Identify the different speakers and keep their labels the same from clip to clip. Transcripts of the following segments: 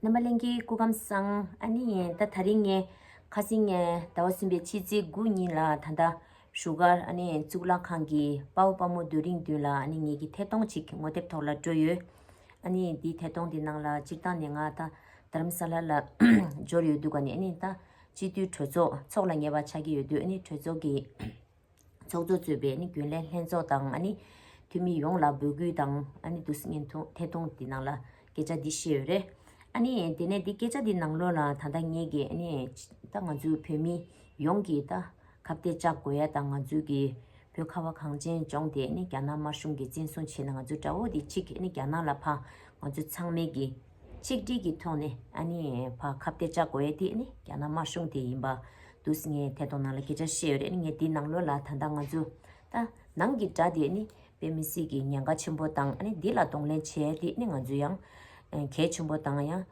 Speaker 1: རྣམ་པ་གླིང་གི་སྐུ་ཁམས་བཟང། ཨ་ནི་ཡིན་ད་ད་རིང་ངའི། ཁ་སེང་ངའི་ཟླ་བ་གསུམ་པའི་ཕྱི་ཚེས་དགུ་ཉིན་ལ་ད་ལྟ། བཞུགས་སྒར་ཨ་ནི་ཡིན་གཙུག་ལག་ཁང་གི་དཔའ་བོ་དཔའ་མོ་རྡོ་རིང་བདུན་ལ་ཨ་ནི་ངེད་ཀྱི་ཐད་གཏོང་ཅིག་ངོ་དེབ་ཐོག་ལ་འགྲོ་ཡོད། ཨ་ནི་ཡིན་དེའི་ཐད་གཏོང་དེ་ནང་ལ་སྤྱིར་བཏང་ནས་ང་ད་རྡ་རམ་ས་ལ་ལ་འབྱོར་ཡོད་འདུག་ག་ནི་ཨ་ནི་ཡིན་ད། སྤྱི་འཐུས་གྲོས་ཚོགས་ཚོགས་ལ་ངེས་པ་ཆགས་ཀྱི་ཡོད་དུས་ཨ་ནི་གྲོས་ཚོགས་ཀྱི། ཚོགས་གཙོ་གཙོས་པའི་རྒྱུན་ལས་ལྷན་ཚོགས་དང་འཐུས་མི་ཡོངས་ལ་འབོད་སྐུལ་དང་བསྡུ་སྙན་ཐད་གཏོང་དེ་ནང་ལ་སྐད་ཆ་འདི་བཤད་ཡོད་རེད། དེ་ནས་དེ་སྐད་ཆ་དེ་ནང་ལོགས་ལ་ད་ལྟ་ངེད་ཀྱིས་ད་ང་ཚོའི་བོད་མི་ཡོངས་ཀྱིས་ད་ཁ་བརྡ་བཅག་དགོས་ཡ་ད་ང་ཚོའི་གི་བོད་ཁ་བ་གངས་ཅན་ལྗོངས་དེ་རྒྱ་ནག་དམར་གཞུང་གིས་བཙན་བཟུང་བྱས་ན་ང་ཚོའི་དགྲ་བོ་དེ་གཅིག་རྒྱ་ནག་ལ་ཕ་ང་ཚོ་ཚང་མས་གི། ཆིག་སྒྲིལ་གྱི་ཐོག་ནས་ཨ་ནི་བ་ཁ་བརྡས་བཅག་དགོས་ཡས་དེ་ནི་རྒྱ་ནག་དམར་གཞུང་དེ་ཡིན་པ་དུས་ངས་ཐད་གཏོང་ནང་ལ་སྐད་ཆ་བཤད་ཡོད་རེད་ངས་དེ་ནང་ལོས་ལ་ད་ལྟ་ང་ཚོ་ད་ནང་གི་དགྲ་དེ་ནི་དཔེ་མི་སྲིད་ཀྱི་ཉེན་ཁ་ཆེན་པོ་དང་ཨ་ནི་དེ་ལ་གདོང་ལེན་བྱས་ཡས་དེ་ནི་ང་ཚོ་ཡང་གལ་ཆེན་པོ་དང་ཡང་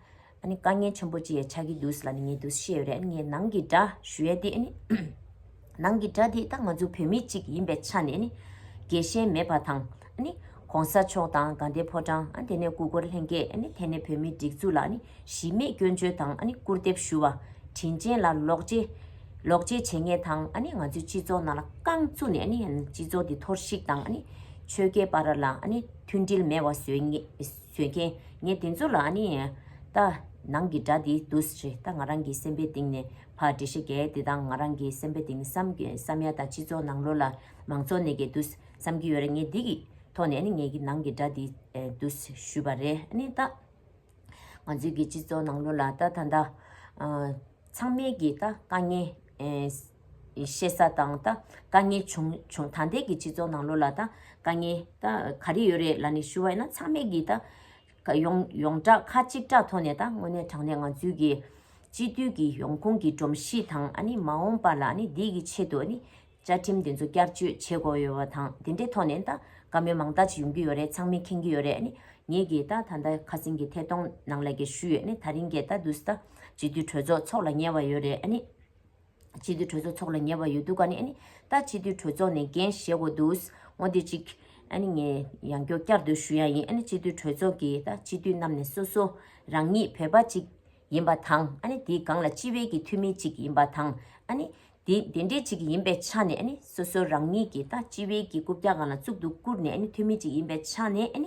Speaker 1: ཨ་ནི་དཀའ་ངལ་ཆེན་པོ་ཅིག་ཡས་ཆགས་ཀྱི་དུས་ལ་ནི་ངས་དུས་བཤད་ཡོད་རེད་ཨ་ནི་ངས་ནང་གི་དགྲ་ཞུ་ཡས་དེ་ཨ་ནི། ནང་གི་དགྲ་དེ་རྟག་མ་འཛུགས་བོད་མི་གཅིག་ཡིན་པའི་ཆ་ནས་ནི། རྒྱལ་ཞེན་མེད་པ་དང། གོང་ས་མཆོག་དང་དགའ་ལྡན་ཕོ་བྲང། དེ་ནས་སྐུ་འཁོར་ལྷན་རྒྱས་ཐད་ནས་བོད་མིའི་སྒྲིག་འཛུགས་ལ་ནི་གཞི་མེད་སྐྱོན་བརྗོད་དང་སྐུར་འདེབས་ཞུ་བ། དྲིན་ཅན་ལ་ལོག་འཇལ། ལོག་འཇལ་བྱེད་ངེས་དང་ང་ཚོའི་སྤྱི་ཚོགས་ནང་ལ་རྐང་བཙུགས་ནས་ནི་སྤྱི་ཚོགས་འདི་འཐོར་བཤིག་དང་ནི། ཆོལ་ཁའི་བར་ལ་ནི་མཐུན་སྒྲིལ་མེད་བ་བཟོས་མཁན་ངེད་དེ་ཚོ་ལ་ནི། རྟག་ནང་གི་དགྲ་དེ་དུ་རེད་རྟག་ང་རང་གི་སེམས་པའི་གཏིང་ནས། ཕ་འདྲེ་ཤེས་གལ་དེ་དང་ང་རང་གི་སེམས་པའི་དེང་སང་གི་བསམ་ཡ་དང་སྤྱི་ཚོགས་ནང་ལོ་ལ་མང་ཚོགས་ནས་གི་འདུག་བསམ་གི་ཡོད་རེད་ངས་འདི་གི་ཐོག་ནས་ནི་ངས་གི་ནང་གི་སྒྲ་འདི་འདུག་ཞུས་པ་རེད་ནི་ད། ང་ཚོའི་གི་སྤྱི་ཚོགས་ནང་ལོ་ལ་ད་ད་ད། ཚང་མས་གི་ད་དཀའ་ངལ་ཤེས་ས་དང་ད་དཀའ་ངལ་བྱུང་བྱུང་ད་ལྟའི་གི་སྤྱི་ཚོགས་ནང་ལོ་ལ་ད་དཀའ་ངལ་ད་ག་རེ་ཡོད་རེད་ལ་ནི་ཞུ་བ་ཡིན་ན་ཚང་མས་གི་ད། ཡོངས་བསྒྲགས་ཁ་གཅིག་གྲགས་ཐོག་ནས་དང་དངོས་གནས་དྲང་གནས་ང་ཚོའི་གི་སྤྱི་འཐུས་ཀྱི་ཡོང་ཁུངས་ཀྱི་སྒྲོམ་གཞི་དང་མ་འོངས་པ་ལ་འདི་གི་ཆེད་དུ་བཅའ་ཁྲིམས་དེ་ཚོ་བསྐྱར་བཅོས་བྱེད་དགོས་ཡོད་པ་དང་དེ་འདྲའི་ཐོག་ནས་ད་བཀའ་མོལ་མང་དག་ཅིག་ཡོང་གི་ཡོད་རེད་ཚང་མས་མཁྱེན་གྱི་ཡོད་རེད་ངས་གི་ད་ད་ཁ་སེང་གི་ཐད་གཏོང་ནང་ལ་གི་ཞུས་ཡོད་ད་རིང་གི་ད་དུས་ད་སྤྱི་འཐུས་གྲོས་ཚོགས་ཚོགས་ལ་ཉེ་བ་ཡོད་རེད། ཕྱི་དུས་གྲོས་ཚོགས་འཚོགས་ལ་ཉེ་བ་ཡོད་འདུག་ག་ནི། ད་ཕྱི་དུས་གྲོས་ཚོགས་ནས་འགན་བཞེས་དགོས་འདུག་ངོ་དེ་གཅིག། ངས་ཡང་མགྱོགས་བསྐྱར་ཟློས་ཞུ་ཡ་ཡིན་ཕྱི་དུས་གྲོས་ཚོགས་ཀྱིས་ད་ཕྱི་དུས་རྣམས་ནས་སོ་སོ་རང་ཉིད་བོད་པ་གཅིག་ཡིན་པ་དང་དེའི་སྒང་ལ་སྤྱི་བའི་ཀྱི་འཐུས་མི་གཅིག་ཡིན་པ་དང། དེ་འདྲའི་གཅིག་ཡིན་པའི་ཆ་ནས་སོ་སོ་རང་ཉིད་ཀྱིས་ད་སྤྱི་བའི་ཀྱི་རྐུབ་བཀྱག་སྒང་ལ་བཙུགས་འདུག་བཀུར་ནས་འཐུས་མི་གཅིག་ཡིན་པའི་ཆ་ནས།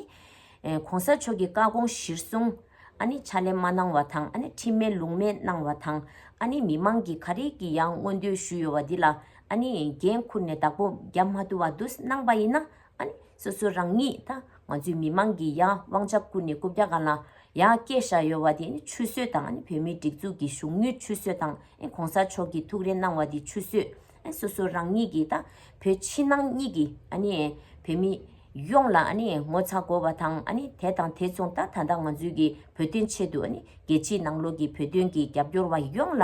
Speaker 1: གོང་ས་མཆོག་གི་བཀའ་དགོངས་གཞིར་བཟུང། ཨ་ནི་ཕྱག་ལས་མ་གནང་བ་དང་ཨ་ནི་ཁྲིམས་མེད་ལུགས་མེད་གནང་བ་དང་ཨ་ནི་མི་མང་གིས་ག་རེ་གི་ཡང་མངོན་འདོད་ཞུས་ཡོད་བ་འདི་ལ་ཨ་ནི་འགན་ཁུར་ནས་བདག་པོ་རྒྱབ་མ་བསྡུ་བ་བསྡུ་གནང་བ་ཡིན་ན་ཨ་ནི་སོ་སོ་རང་ཉིད་དང་ང་ཚོའི་མི་མང་གི་ཡང་དབང་ཆ་བཀུར་ནས་རྐུབ་བཀྱག་གང་ལ་ཡང་བཀལ་བཞག་ཡོད་བ་འདི་ཆུད་ཟོས་དང་ཨ་ནི་བོད་མིའི་སྒྲིག་འཛུགས་ཀྱི་གཞུང་ཉུལ་ཆུད་ཟོས་དང་ཨ་ནི་གོང་ས་མཆོག་གིས་ཐུགས་རེ་གནང་བ་འདི་ཆུད་ཟོས་སོ་སོ་རང་ཉིད་ཀྱིས་དང་བོད་ཕྱི་ནང་གཉིས་ཀྱི་བོད་མི་ཡོངས་ལ་ངོ་ཚ་དགོས་བ་དང་དེ་དང་དེ་མཚུངས་ད་ད་ལྟ་ང་ཚོའི་གི་བོད་དོན་ཆེད་དུ་རྒྱལ་སྤྱིའི་ནང་ལོགས་ཀྱི་བོད་དོན་གྱི་རྒྱབ་སྐྱོར་བ་ཡོངས་ལ་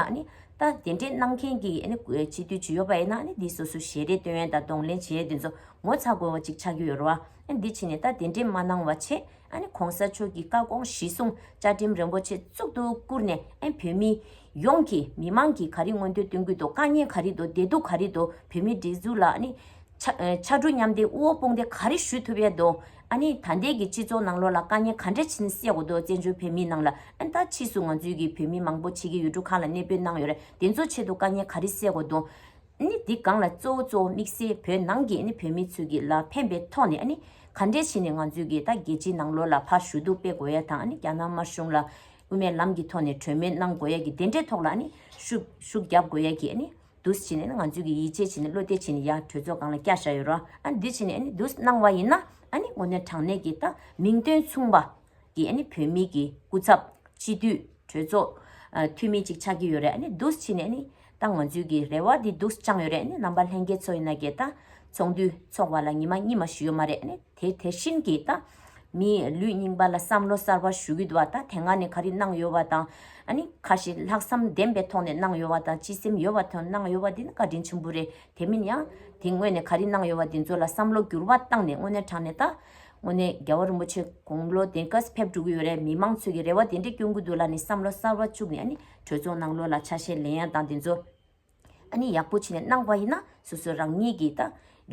Speaker 1: ད་དེ་འདྲས་གནང་མཁན་གྱི་སྤྱི་འཐུས་བྱུས་ཡོད་པ་ཡིན་ན་འདི་སོ་སོ་ཞལ་རས་སྟོན་དང་གདོང་ལེན་བྱས་དེ་ཚོ་ངོ་ཚ་དགོས་བ་ཅིག་ཆགས་ཀྱི་ཡོད་རེད་བ། འདི་ཕྱི་ནས་ད་དེ་འདྲས་མ་གནང་བ་ཆེས་ཨ་ནི་གོང་ས་མཆོག་གི་བཀའ་དགོངས་གཞི་བཟུང་བཅའ་ཁྲིམས་རིན་པོ་ཆེ་གཙུག་ཏུ་བཀུར་ནས་ཨེ་བོད་མི་ཡོངས་ཀྱི་མི་དམངས་ཀྱི་ག་རི་མངོན་འདོད་སྟོན་ཁུལ་དུ་དཀའ་ཉེན་ག་རི་དོ་བདེ་སྡུག་ག་རི་དོ་བོད་མི་སྒྲིག་འཛུགས་ལ་ཨ་ནི། ཕྱར་གྲུ་མཉམ་འདེགས་དབུ་འོག་དཔུང་འདེགས་ག་རི་ཞུ་ཐུབ་ཡ་དོ་ཨ་ནི་ད་ལྟའི་གི་སྤྱི་ཚོགས་ནང་ལོག་ལ་དཀའ་ཉེན་ག་འདྲ་ཕྱིན་སེ་གོ་དོ་བཙན་བྱོལ་བོད་མི་ནང་ལ་ཨ་ནི་ད་ཕྱིས་སུ་ང་ཚོའི་གི་བོད་མི་མང་པོ་ཕྱི་གི་ཡུལ་གྲུ་ཁག་ལ་གནས་སྤོས་གནང་ཡོད་རེད་དེ་ཚོ་ཆེད་དུ་དཀའ་ཉེན་ག་རི་སེ་གོ་དོ། ནི་འདི་གང་ལ་གཙོ་བོ་གཙོ་བོ་དམིགས་བསལ་བོད་ནང་གི་ནི་བོད་མི་ཚོས་ཀྱི་ལ་ཕན་པའི་ཐོག་ནས་ནི་ག་འདྲས་བྱས་ནས་ང་ཚོས་ཀྱི་ད་རྒྱལ་སྤྱིའི་ནང་ལོ་ལ་ཕ་ཞུ་གཏུག་སྤེལ་དགོས་ཡ་དང་ནི་རྒྱ་ནག་དམར་གཞུང་ལ་དབུ་མའི་ལམ་གྱི་ཐོག་ནས་གྲོས་མོལ་གནང་དགོས་ཡ་གྱི་དེ་འདྲའི་ཐོག་ལ་ནི་ཤུག་ཤུག་རྒྱབ་དགོས་ཡ་གྱི་ནི་འདུས་བྱས་ནས་ནི་ང་ཚོས་ཀྱི་ཡིད་ཆེས་བྱས་ནས་བློ་གཏད་བྱས་ནས་ཡ་གྲོས་ཚོགས་གང་ལ་བསྐྱལ་བཞག་ཡོད་རོ་ཨ་འདུས་བྱས་ནས་ནི་འདུས་གནང་བ་ཡིན་ན་ཨ་ནི་ངོ་ནས་དྲང་གནས་ཀྱི་ད་མིང་དོན་མཚུངས་པ་གི་ནི་བོད་མི་གི་སྐུ་ཚབ། སྤྱི་འཐུས། གྲོས་ཚོགས། འཐུས་མི་ཅིག་ཆགས་ཀྱི་ཡོད་རེད་ནི་འདུག་ཕྱིས་ནས་ནི། ད་ང་ཚོའི་གི་རེ་བ་དེ་འདུག་བཅངས་ཡོད་རེད་ནི་རྣམ་པ་ལྷན་རྒྱས་ཚོ་ཡིན་ན་གི་ད། ཚོགས་འདུ་འཚོགས་བ་ལ་ཉི་མ་གཉིས་མ་ཞུས་ཡོད་མ་རེད་ནི་དེ་དེ་བཞིན་གི་ད། མི་ལུས་རྙིང་པ་ལ་བསམ་བློ་གསར་བ་ཞུ་གི་འདུག་བ་ད་དེ་སྔ་ནི་ག་རི་གནང་ཡོད་བ་དང། ནི་ཁ་ཞིག་ལྷག་བསམ་ལྡན་པའི་ཐོག་ནས་གནང་ཡོད་བ་དང་སྤྱི་སེམས་ཡོད་བ་ཐོན་གནང་ཡོད་བ་དེ་ནི་བཀའ་དྲིན་ཆེན་པོ་རེད་དེ་མིན་ཡང། དེ་སྔོན་ནས་ག་རི་གནང་ཡོད་བ་དེ་ཚོ་ལ་བསམ་བློ་འགྱུར་བ་བཏང་ནས་དངོས་གནས་དྲང་ནས་ད། དངོས་གནས་རྒྱལ་བ་རིན་པོ་ཆེ་དགུང་ལོ་དེ་ག་ས་ཕེབས་འགྲོ་གི་ཡོད་རེད་མི་མང་ཚོས་ཀྱི་རེ་བ་དེ་འདྲས་སྐྱོན་གྱི་འདུག་ལ་ནི་བསམ་བློ་གསར་བ་བཅུག་ནས་ཨ་ནི་གྲོས་ཚོགས་ནང་ལོ་ལ་ཆ་ཤས་ལེན་ཡ་དང་དེ་ཚོ་ཨ་ནི་ཡག་པོ་བྱེད་ནས་གནང་བ་ཡིན་ན་སོ་སོ་རང་ཉིད་ཀྱི་ད་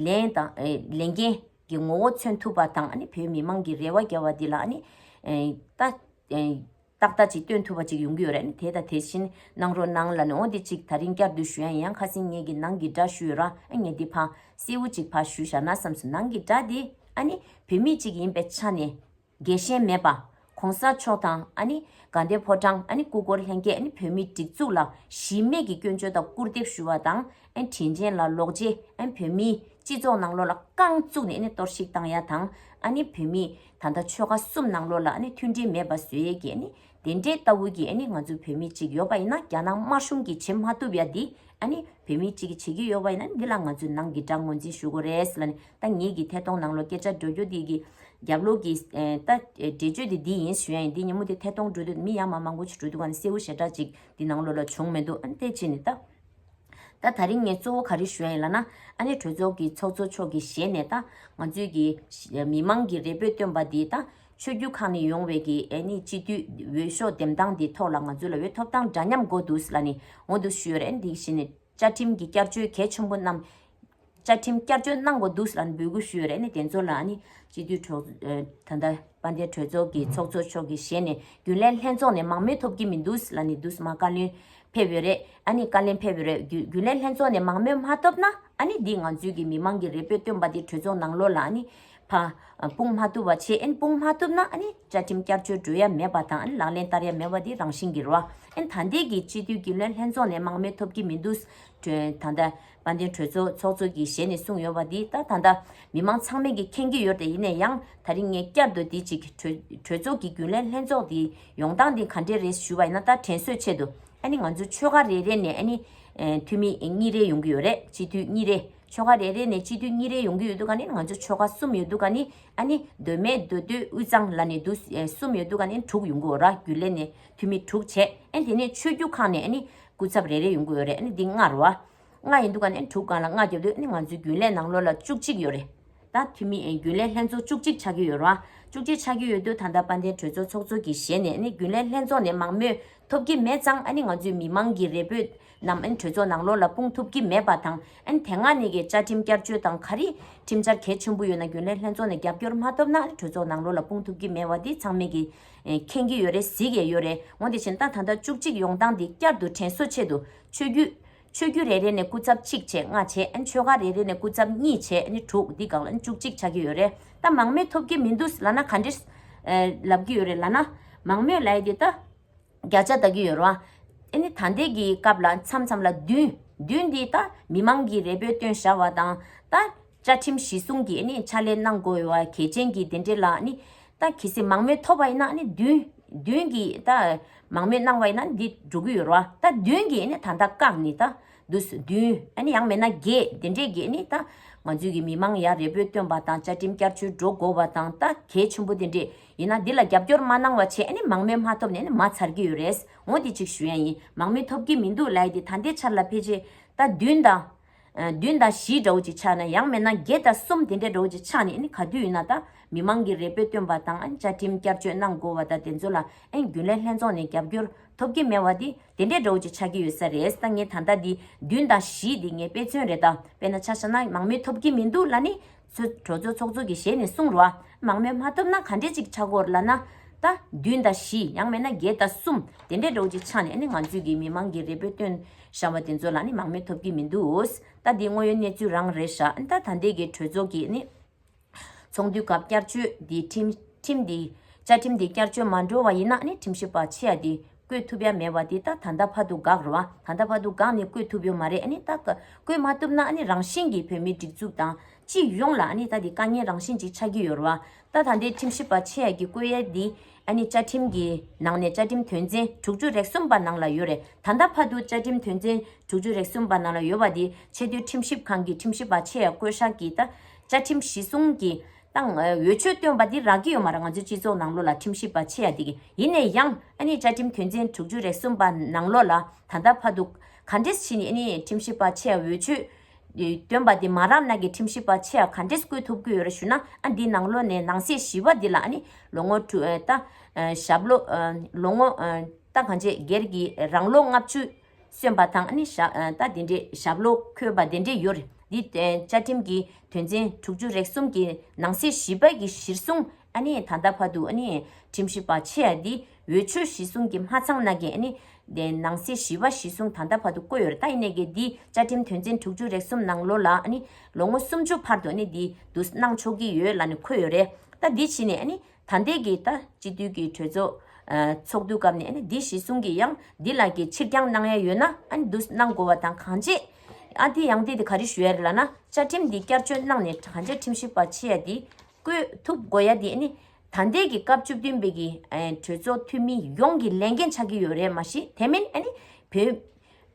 Speaker 1: ལན་དང་ལས་འགན་གྱི་ངོ་བོ་མཚོན་ཐུབ་པ་དང་ཨ་ནི་བོད་མི་མང་གྱི་རེ་བ་རྒྱལ་བ་འདི་ལ་ཨ་ནི་ད། ཏག་ཏག་ཅིག་སྟོན་ཐུབ་པ་ཅིག་ཡོང་གི་ཡོད་རེད་ནི་དེ་དང་དེ་བཞིན་གནང་རོགས་གནང་ལ་ནི་འོ་དེ་ཅིག་ད་རིང་བསྐྱར་ཟློས་ཞུ་ཡ་ཡིན་ཡང་ཁ་སིང་ངེད་ཀྱི་ནང་གི་སྒྲ་ཞུ་ཡོད་ར་ཨ་ངེད་དེ་ཕ། སེ་བོ་ཅིག་ཕ་ཞུ་བཞག་ན་བསམ་སོང་ནང་གི་སྒྲ་དེ་ཨ་ནི་བུད་མེད་ཅིག་ཡིན་པའི་ཆ་ནས། རྒྱལ་ཞེན་མེད་པ། གོང་ས་མཆོག་དང་ཨ་ནི་དགའ་ལྡན་ཕོ་བྲང་ཨ་ནི་སྐུ་འཁོར་ལྷན་རྒྱས་ཨ་ནི་བོད་མིའི་སྒྲིག་འཛུགས་ལ་གཞི་མེད་ཀྱི་སྐྱོན་བརྗོད་དང་སྐུར་འདེབས་ཞུ་བ་དང་ཨ་ནི་དྲིན་ཅན་ལ་ལོག་རྗེས་ཨ་ནི་བོད་མིའི་སྤྱི་ཚོགས་ནང་བློ་ལ་རྐང་བཙུགས་ནས་ཨ་ནི་གཏོར་བཤིག་བཏང་ཡ་དང་ཨ་ནི་བོད་མིའི། ད་ལྟ་ཆོལ་ཁ་གསུམ་ནང་ལོགས་ལ་མཐུན་སྒྲིལ་མེད་པ་བཟོས་ཡས་ཀྱི་དེ་འདྲའི་ལྟ་བུ་གྱི་ང་ཚོ་བོད་མི་གཅིག་ཡོད་པ་ཡིན་ན་རྒྱ་ནག་དམར་གཞུང་གིས་བྱེད་མ་ཐུབ་ཡ་འདི་བོད་མི་གཅིག་གིས་བྱེད་ཀྱི་ཡོད་པ་ཡིན་ན་འདི་ལ་ང་ཚོས་ནང་གི་དགྲ་ངོ་འཛིན་ཞུ་དགོས་རེད་ལ་ད་ངེད་ཀྱི་ཐད་གཏོང་ནང་ལོགས་སྐད་ཆ་འགྲོ་རྒྱུ་འདི་གི་རྒྱབ་ལོགས་ཀྱི་ལྟ་འབྲས་བརྗོད་དེ་འདི་ཡིན་ཞུ་ཡ་ཡིན་འདི་ཉིན་མོ་དེ་ཐད་གཏོང་འགྲོ་དུས་མི་ཡ་མ་མང་པོ་ཞིག་འགྲོ་འདུག་ནི་གསལ་བོ་ཞེ་དྲག་ཅིག་འདི་ནང་ལོགས་ལ་བྱུང་མི་འདུག་དེ་བྱས་ནས་ད། ད་ད་རིང་ངས་གཙོ་བོ་ག་རེ་ཞུ་ཡ་ཡིན་ལ་ན། ཨ་ནེ་གྲོས་ཚོགས་ཀྱི་ཚོགས་གཙོ་མཆོག་གི་ཞལ་ནས་ད། ང་ཚོའི་གི། མི་མང་གི་རེ་འབོད་བཏོན་པ་འདི་ད། ཆོས་བརྒྱུད་ཁག་ནས་ཡོང་བའི་གི་ཨེ་ནི་སྤྱི་འཐུས་འོས་ཤོག་འདེམས་སྟངས་འདི་ཐོག་ལ་ང་ཚོ་ལ་འོས་ཐོབ་སྟངས་འདྲ་མཉམ་འགོ་འདུག་ལ་ནི་ངོ་འདུག་ཞུ་ཡོད་རེད་འདི་བཞིན། བཅའ་ཁྲིམས་གི་བསྐྱར་བཅོས་གལ་ཆེན་པོ་རྣམས། བཅའ་ཁྲིམས་བསྐྱར་བཅོས་གནང་བ་འདུག་ལ་འབོད་སྐུལ་ཞུས་ཡོད་རེད་ནས་དེ་ཚོ་ལ་ནི་སྤྱི་འཐུས་གྲོགས། ད་ལྟ་དཔལ་ལྡན་གྲོས་ཚོགས་ཀྱི་ཚོགས་གཙོ་མཆོག་གིས་ཞལ་ནས་རྒྱུན་ལས་ལྷན་ཚོགས་ནས་མང་མོས་ཐོབ་ཀྱི་མི་འདུག་ལ་ནི་འདུག་སྨྲ་བཀའ་བློན་ཕེབས་ཡོད་རེད་ཨ་ནི་བཀའ་ལན་ཕེབས་ཡོད་རེད་རྒྱུན་ལས་ལྷན་ཚོགས་ནས་མང་མོས་མ་ཐོབ་ན་ཨ་ནི་འདི་ང་ཚོའི་གི་མི་མང་གི་རེ་འབོད་བཏོན་པ་དེ་གྲོས་ཚོགས་ནང་ལོགས་ལ་ཨ་ནི་ཕ། སྤུངས་མ་ཐུབ་བ་ཆེ་ཨན་སྤུངས་མ་ཐུབ་ན་ཨ་ནི་བཅའ་ཁྲིམས་བསྐྱར་བཅོས་འགྲོ་ཡ་མེད་པ་དང་ཨ་ནི་ལག་ལེན་བསྟར་ཡ་མེད་པ་དེ་རང་བཞིན་གི་རོ་ཨན་ད་ལྟའི་གི་སྤྱི་འཐུས་རྒྱུན་ལས་ལྷན་ཚོགས་ནས་མང་མོས་ཐོབ་ཀྱི་མི་འདུག་ད་ལྟ་དཔལ་ལྡན་གྲོས་ཚོགས་ཚོགས་གཙོ་གྱི་ཞལ་ནས་གསུངས་ཡོད་པ་འདི་ལྟར་ད་ལྟ་མི་མང་ཚང་མས་ཀྱིས་མཁྱེན་གྱི་ཡོད་རེད་ཡིན་ན་ཡང་ད་རིང་ངས་བསྐྱར་དུ་འདི་གཅིག་གྲོས་ཚོགས་ཀྱི་རྒྱུན་ལས་ལྷན་ཚོགས་འདིའི་ཡོང་སྟངས་འདི་ག་འདྲས་རེད་ཞུས་པ་ཡིན་ན་ད་དྲན་གསོས་ཆེད་དུ་ཨ་ནི་ང་ཚོའི་ཆོལ་ཁ་རེ་རེ་ནས་ཨ་ནི་འཐུས་མི་གཉིས་རེ་ཡོང་གི་ཡོད་རེད་སྤྱི་འཐུས་གཉིས་རེ་ཆོལ་ཁ་རེ་རེ་ནས་སྤྱི་འཐུས་གཉིས་རེ་ཡོང་གི་ཡོད་འདུག་ག་ནི་ང་ཚོའི་ཆོལ་ཁ་གསུམ་ཡོད་འདུག་ག་ནི་ཨ་ནི་སྡོད་མལ་སྡོད་སྡོད་དབུས་གཙང་ལ་ནས་འདུག་གསུམ་ཡོད་འདུག་ག་ནི་དྲུག་ཡོང་གི་འོ་ར་རྒྱུན་ལས་ནས་འཐུས་མི་དྲུག་བྱས་ཨ་ནི་དེ་ནས་ཆོས་རྒྱུད་ཁག་ནས་ཨ་ནི། སྐུ་ཚབ་རེ་རེ་ཡོང་གི་ཡོད་རེད་ཨ་ནི་འདི་ལྔ་རུ། ལྔ་ཡིན་འདུག་ག་ནི་དྲུག་གང་ལ་ལྔ་རྒྱབ་དུས་ཨ་ནི་ང་ཚོའི་རྒྱུན་ལས་ནང་ལོ་ལ་བཅུ་གཅིག་ཡོད་རེད། ད་འཐུས་མི་རྒྱུན་ལས་ལྷན་ཚོགས་བཅུ་གཅིག་ཆགས་ཀྱི་ཡོད་རུང། བཅུ་གཅིག་ཆགས་ཀྱི་ཡོད་དུས་ད་ལྟ་དཔལ་ལྡན་གྲོས་ཚོགས་ཚོགས་གཙོ་གི་ཞལ་ནས་ཨ་ནི་རྒྱུན་ལས་ལྷན་ཚོགས་ནས་མང་མོས་ཐོབ་ཀྱི་མེད་ཙང་ཨ་ནི་ང་ཚོའི་མི་མང་གི་རེ་འབོད་རྣམས་ཨ་ནི་གྲོས་ཚོགས་ནང་ལོ་ལ་སྤུངས་ཐུབ་ཀྱི་མེད་པ་དང་ཨ་ནི་དེ་སྔ་ནས་ཀྱི་བཅའ་ཁྲིམས་བསྐྱར་བཅོས་དང་ག་རེ་ཁྲིམས་འཆར་གལ་ཆེན་པོ་ཡོད་ན་རྒྱུན་ལས་ལྷན་ཚོགས་ནས་རྒྱབ་སྐྱོར་མ་ཐོབ་ན་ཨ་ནི་གྲོས་ཚོགས་ནང་ལོ་ལ་སྤུངས་ཐུབ་ཀྱི་མེད་བ་འདི་ཚང་མེད་ཀྱི་མཁྱེན་གྱི་ཡོད་རེད་གཟིགས་ཡས་ཡོད་རེད་འོན་ཏེ་བྱེད་སྟངས་ད་ལྟ་བཅུ་གཅིག་ཡོང་སྟངས་འདི་བསྐྱར་དུ་དྲན་གསོ་ཆེད་དུ་ཆོས་རྒྱུད། ཆོས་རྒྱུད་རེ་རེ་ནས་སྐུ་ཚབ་གཅིག་བྱས་ལྔ་བྱས་ཆོལ་ཁ་རེ་རེ་ནས་སྐུ་ཚབ་གཉིས་བྱས་དྲུག་འདི་གང་ལ་བཅུ་གཅིག་ཆགས་ཀྱི་ཡོད་རེད་ད་མང་མོས་ཐོབ་ཀྱི་མི་འདུག་ལ་ན་ག་འདྲི་ལབ་ཀྱི་ཡོད་རེད་ལ་ན། མང་མོས་ལ་ཡི་དེ་ད། བརྒྱ་ཆ་ད་གི་ཡོད་རོ། ཨེ་ནི་ད་འདས་ཀྱི་སྐབས་ལ་མཚམས་མཚམས་ལ་བདུན། བདུན་འདི་ད་མི་མང་གི་རེ་འབོད་བཏོན་བཞག་བ་དང། ད་བཅའ་ཁྲིམས་གཞི་བཟུང་གི་ཨེ་ནི་ཕྱག་ལས་གནང་དགོས་བ་གལ་ཆེན་གྱི་དེ་འདྲེ་ལ་ཨེ་ནི། ད་གི་སེ་མང་མོས་ཐོབ་བ་ཡིན་ན་ཨེ་ནི་བདུན། བདུན་གྱི་ད་མང་མོས་གནང་བ་ཡིན་ན་འདི་འགྲོ་གི་ཡོད་རོ། ད་བདུན་གྱི་ཨེ་ནི་ད་ད་བཀག་ནི་ད་འདུག་སོ་བདུན། ཨེ་ནི་ཡང་མེད་ན་བརྒྱད་དེ་འདྲེ་གི་ཨེ་ནི་ད། ང་ཚོའི་གི་མི་མང་ཡར་རེ་འབོད་བཏོན་བ་དང་བཅའ་ཁྲིམས་བསྐྱར་བཅོས་འགྲོ་དགོས་བ་དང་ད་གལ་ཆེན་པོ་དེ་འདྲེ། ཡིན་ན་འདི་ལ་རྒྱབ་སྐྱོར་མ་གནང་བ་ཆེད་ནས་མང་མོས་མ་ཐོབ་ནས་མ་ཚར་གྱི་ཡོད་རེད། འོ་དེ་གཅིག་ཞུ་ཡ་ཡིན། མང་མོས་ཐོབ་ཀྱི་མི་འདུག་ལའི་དེ་ད་ལྟའི་ཆར་ལ་ཕལ་ཆེ། ད་བདུན་དང། བདུན་དང་བཞི་འདྲ་བོ་ཅིག་ཆགས་ན་ཡང་མེད་ན་བརྒྱད་དང་གསུམ་དེ་འདྲ་འདྲ་བོ་ཅིག་ཆགས་ནས་ག་དུས་ཡིན་ན་ད་མི་མང་གི་རེ་འབོད་བཏོན་པ་དང་བཅའ་ཁྲིམས་བསྐྱར་བཅོས་གནང་དགོས་བ་ད་དེ་ཚོ་ལ་རྒྱུན་ལས་ལྷན་ཚོགས་ནས་རྒྱབ་སྐྱོར་ཐོབ་ཀྱི་མེད་བ་དེ་དེ་འདྲ་འདྲ་བོ་ཅིག་ཆགས་ཀྱི་ཡོད་ས་རེད་ད་ངས་ད་ལྟ་འདི་བདུན་དང་བཞི་དེ་ངས་དཔེ་མཚོན་རེད་ད་དཔེ་ན་ཆ་ཤ་ན་མང་མོས་ཐོབ་ཀྱི་མི་འདུག་ལ་ནི་ཚོ། གྲོ་ཚོ་ཚོགས་གཙོ་གི་ཞལ་ནས་གསུངས་རོགས་ཨ། མང་མོས་མ་ཐོབ་ན་ག་འདྲས་ཅིག་ཆགས་སྐོར་ལ་ན། རྟ། བདུན་དང་བཞི། ཡང་མེད་ན་བརྒྱད་དང་གསུམ། དེ་འདྲས་འགྲོ་ཅིག་ཆགས་ནས་ནི་ང་ཚོས་ཀྱི་མི་མང་གི་རེ་འབོད་བཏོན། བཞག་པ་དེ་ཚོ་ལ་ནི་མང་མོས་ཐོབ་ཀྱི་མི་འདུག། རྟ་འདིའི་དངོས་ཡོད་གནས་ཚུལ་རང་རེད་བཞག་ཨ། ད་ལྟའི་གི་གྲོས་ཚོགས་ཀྱི་ནི། ཚོགས་འདུའི་སྐབས་བསྐྱར་བཅོས་འདི་ཁྲིམས། ཁྲིམས་འདི། བཅའ་ཁྲིམས་འདི་བསྐྱར་བཅོས་མ་འགྲོ་བ་ཡིན་ན་ནི་ཁྲིམས་ཞིབ་པ་ཆེ་ཡ་འདི། བཀོད་ཐུབ་ཡ་མེད་བ་དེ་ད་ད་འདའ་ཕ་དུ་འགག་རུ་ཨ་ད་འདའ་ཕ་དུ་འགག་ནས་བཀོད་ཐུབ་ཡོ་མ་རེད་ཨ་ནི་ད་ད་བཀོད་མ་ཐུབ་ན་ཨ་ནི་རང་བཞིན་གྱི་བོད་མི་སྒྲིག་འཛུགས་དང་སྤྱི་ཡོངས་ལ་ཨ་ནི་ད་དེ་དཀའ་ངལ་རང་བཞིན་ཅིག་ཆགས་ཀྱི་ཡོ་རུ་ཨ་ད་ད་འདའི་ཁྲིམས་ཞིབ་པ་ཆེ་ཡ་གི་བཀོད་ཡ་དེ་ཨ་ནི་བཅའ་ཁྲིམས་ཀྱི་ནང་ནས་བཅའ་ཁྲིམས་དོན་ཚན་དྲུག་ཅུ་རེག་གསུམ་པ་ནང་ལ་ཡོ་རེད་ད་འདའ་ཕ་དུ་བཅའ་ཁྲིམས་དོན་ཚན་དྲུག་ཅུ་རེག་གསུམ་པ་ནང་ལ་ཡོ་བ་དེ་ཆེ་མཐོའི་ཁྲིམས་ཞིབ་ཁང་གི་ཁྲིམས་ཞིབ་པ་ཆེ་ཡ་བཀོད་ཤག་གིས་ད་བཅའ་ཁྲིམས་གཞི་བཟུང་གི་དང། འོས་ཆོས་བཏོན་པ་འདི་རག་གི་ཡོད་མ་རེད་ང་ཚོའི་སྤྱི་ཚོགས་ནང་ལོ་ལ་ཁྲིམས་ཞིབ་པ་ཆེ་ཡ་འདི་གི་ཡིན་ནའི་ཡང་ཨ་ནི་བཅའ་ཁྲིམས་དོན་ཚན་དྲུག་ཅུ་རེ་གསུམ་པ་ནང་ལོ་ལ་ད་ལྟ་ཕ་འདུག་ག་འདྲེས་ཕྱིན་ཨ་ནི་ཁྲིམས་ཞིབ་པ་ཆེ་ཡ་འོས་ཆོས་བཏོན་པ་འདི་མ་རག་ན་གི་ཁྲིམས་ཞིབ་པ་ཆེ་ཡ་ག་འདྲེས་བསྐོས་ཐུབ་གི་ཡོད་རེད་ཞུ་ན་ཨ་འདི་ནང་ལོ་ནས་ནང་སྲིད་ཞི་བ་འདི་ལ་ཨ་ནི་ལོ་ངོ་ལྟ་ཞབས་ལོ་ལོ་ངོ་ལྟ་གང་བྱས་སྒེར་གྱི་རང་ལོ་ལྔ་བཅུ། སོན་པ་དང་ནི་རྟ་དེ་འདྲའི་ཞབས་ལོ་འཁོད་པ་དེ་འདྲས་ཡོད་རེད། འདི་བཅའ་ཁྲིམས་ཀྱི་དོན་ཚན་དྲུག་ཅུ་རེ་གསུམ་གྱི་ནང་གསེས་བཞི་པ་ཀྱི་གཞིར་བཟུང་ད་ལྟ་བར་དུ་ཁྲིམས་ཞིབ་པ་ཆེ་འདི་འོས་ཆོས་གཞི་བཟུང་གི་མ་ཚང་ན་གི་ནང་གསེས་བཞི་པ་གཞི་བཟུང་ད་ལྟ་བར་དུ་བཀོད་ཡོད་རེད་ད་ཡིན་ནས་གི་འདི་བཅའ་ཁྲིམས་དོན་ཚན་དྲུག་ཅུ་རེ་གསུམ་ནང་ལོ་ལ་ལོ་ངོ་སུམ་ཅུ་བར་དུ་འདི་བསྡུ་གནང་ཆོག་གི་ཡོད་ལ་འཁོད་ཡོད་རེད་ད་འདི་ཕྱིན་ནས་ད་ལྟའི་གི་ད་སྤྱི་འཐུས་ཀྱི་གྲོས་ཚོགས་ཚོགས་འདུའི་སྐབས་ནས་འདི་ཞེས་གསུང་གི་ཡང་འདི་ལ་གི་ཕྱིར་འགྱངས་གནང་ཡ་ཡོད་ན་འདུ་གནང་དགོས་བ་དང་གང་བྱེད་ཨ་དེ་ཡང་དེ་དེ་ག་རེ་ཞུ་ཡ་རེད་ལ་ན་བཅའ་ཁྲིམས་འདི་བསྐྱར་བཅོས་གནང་ནས་དྲང་བཅའ་ཁྲིམས་ཞིབ་པ་ཆེ་ཡ་དེ་བསྐོས་ཐུབ་དགོས་ཡ་དེ་ནི་ད་ལྟའི་གི་སྐབས་བཅུ་བདུན་པའི་གི་གྲོས་ཚོགས་འཐུས་མི་ཡོངས་ཀྱི་ལས་འགན་ཆགས་ཀྱི་ཡོད་རེད་མ་གཞི་དེ་མིན་ཨ་ནི་བོད་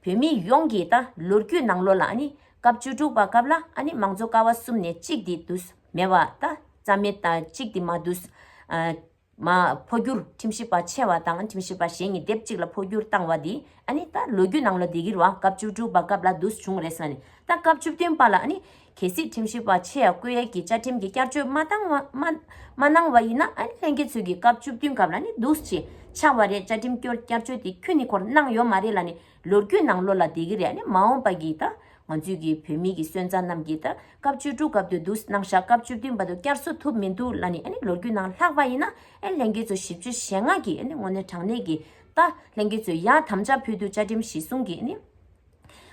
Speaker 1: བོད་མི་ཡོངས་ཀྱི་ད་ལོ་རྒྱུས་ནང་ལོ་ལ་ཨ་ནི་སྐབས་བཅུ་དྲུག་པ་སྐབས་ལ་ཨ་ནི་མང་གཙོ་ཀ་བ་གསུམ་ནས་གཅིག་དེ་འདུ་མེད་པ་ད་རྩ་མེད་དང་གཅིག་དེ་མ་འདུས། མ། འཕོ་འགྱུར་ཁྲིམས་ཞིབ་པ་ཆེ་བ་དང་ཁྲིམས་ཞིབ་པ་གཞན་གཉིས་སྡེབ་གཅིག་ལ་འཕོ་འགྱུར་བཏང་བ་དེ་ཨ་ནི་ད་ལོ་རྒྱུས་ནང་ལ་འདི་གིར་བ་སྐབས་བཅུ་དྲུག་པ་སྐབས་ལ་འདུས་བྱུང་རེད་ས་ནི་ད་སྐབས་བཅུ་བདུན་པ་ལ་ཨ་ནི། གལ་སྲིད་ཁྲིམས་ཞིབ་པ་ཆེ་ཡ་སྐུ་ཡལ་གྱིས་བཅའ་ཁྲིམས་ཀྱི་བསྐྱར་བཅོས་མ་བཏང་བ། མ་གནང་བ་ཡིན་ན་ཨ་ནི་ལྷན་རྒྱས་ཚོས་ཀྱིས་སྐབས་བཅུ་བདུན་སྐབས་ལ་ནི་འདུས་བྱས་ཆགས་པ་རེད་བཅའ་ཁྲིམས་བསྐྱར་བཅོས་དེ་ཁྱོད་ནི་ཁོར་གནང་ཡོད་མ་རེད་ལ་ནི་ལོ་རྒྱུས་ནང་བློ་ལ་བདེ་གི་རེད་མ་འོངས་པ་གིས་ད་ང་ཚོས་ཀྱི་བོད་མི་གི་སོན་རྩ་རྣམས་ཀྱི་ད་སྐབས་བཅུ་དྲུག་སྐབས་དུ་འདུག་སྣང་བཞག་སྐབས་བཅུ་བདུན་པ་དུ་བསྐྱར་གསོ་ཐུབ་མི་འདུག་ལ་ནི་ལོ་རྒྱུས་ནང་ལྷག་པ་ཡིན་ན་ལྷན་རྒྱས་ཚོ་བཞི་བཅུ་ཞེ་ལྔ་གི་ངོ་ནས་དྲང་གནས་ཀྱི་ད་ལྷན་རྒྱས་ཚོས་ཡང་དམ་བཅའ་ཕུལ་དུ་བཅའ་ཁྲིམས་གཞི་བཟུང་གི་ནི་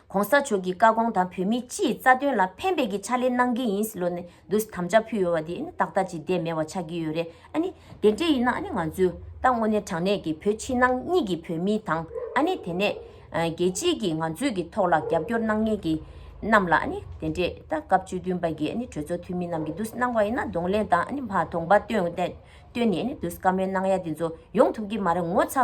Speaker 1: གོང་ས་མཆོག་གི་བཀའ་དགོངས་དང་བོད་མི་སྤྱིའི་རྩ་དོན་ལ་ཕན་པའི་གི་ཕྱག་ལས་གནང་གི་ཡིན་ལོ་ནི་འདུག་དམ་བཅའ་ཕུལ་ཡོད་པ་དེ་ཏག་ཏག་ཅིག་བསྡད་མེད་བ་ཆགས་ཀྱི་ཡོད་རེད་ཨ་ནི། དེ་འདྲ་ཡིན་ན་ནི་ང་ཚོས་ད་དངོས་གནས་དྲང་གནས་ཀྱི་བོད་ཕྱི་ནང་གཉིས་ཀྱི་བོད་མི་དང་ཨ་ནི་དེ་ནས། རྒྱལ་སྤྱིས་ཀྱིས་ང་ཚོས་ཀྱི་ཐོག་ལ་རྒྱབ་སྐྱོར་གནང་མཁན་གྱི་རྣམས་ལ་ཨ་ནི་དེ་འདྲས་ད་སྐབས་བཅུ་བདུན་པ་ཀྱི་ཨ་ནི་གྲོས་ཚོགས་འཐུས་མི་རྣམས་ཀྱིས་འདུག་གནང་བ་ཡིན་ན་གདོང་ལེན་དང་ཨ་ནི་མ་དོགས་པ་བཏོན་ནས་ཨ་ནི་འདུག་བཀའ་མོལ་གནང་ཡ་དེ་ཚོ་ཡོང་ཐུབ་ཀྱི་མ་རེད་ངོ་ཚ་